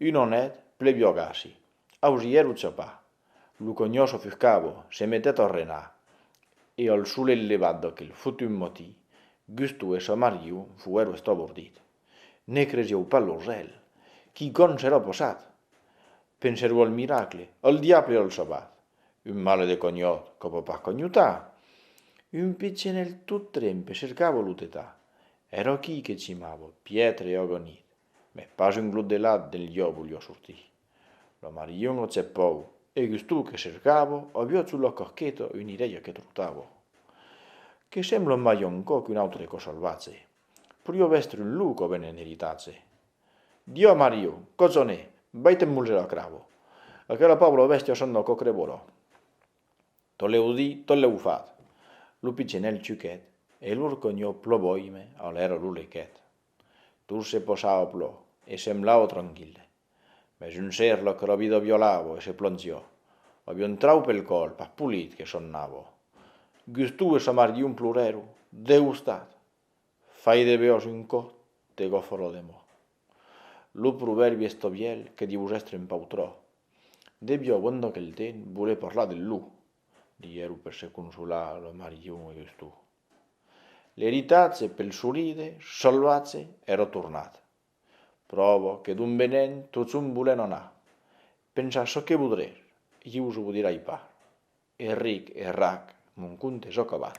Un onet plebiogasi. Ausièr o ciopa. Lo conhós ofuscabo, se metèt a renar, e al solet levat d'aquel fotut matí, Gusto e sa mariu fuèro estabordit. Ne cresieu pas lo cèl! Quicòm s'èra passat! Pensèro al miracle, al diable al sabat! Un malè de conhòt que pòt pas conhotar! Un pichonèl tot trempe cercava lo tetar. Èra aquí que cimava, piètre e agonit. Mes pas un glot de lat del liò volió sortir. Lo marilhon lo cepòu, e gustó que cercavo, avió sul lo corcheto un irello que trotavo. Que semblo mai un cò qu'un autre cò salvatge. Porió vèstre un lou cò ben en eritatge. Diò Mario, cozone, vai te mulger lo cravo. Aquela pòbla bèstia son lo còcre volò. Tot leu dit, tot leu fat. Lo pigenèl chuquet e l'orconhó ploboime a l'èra lo lequet. Tot se posava plo e semblava tranquille. Mès un ser lo crobido violavo e se plongió. Avió un trau pel còl, pas polit, que sonnavo. Gustou e Somargion plorèro, degostat. Fai de beós un còt de gofró de mò. Lo provèrbi estovièl que dius èstre un pautró. Devió bon d'aquel temps voler parlar del lou, diguèro per se consolar lo Margion e Gustou. L'eritatge pel soride salvatge èra tornat. Pròva que d'on venèn tots ont volèn anar. Pensar çò que vodrè, ieu çò vodirai pas. E ric e rac, mon conte es acabat.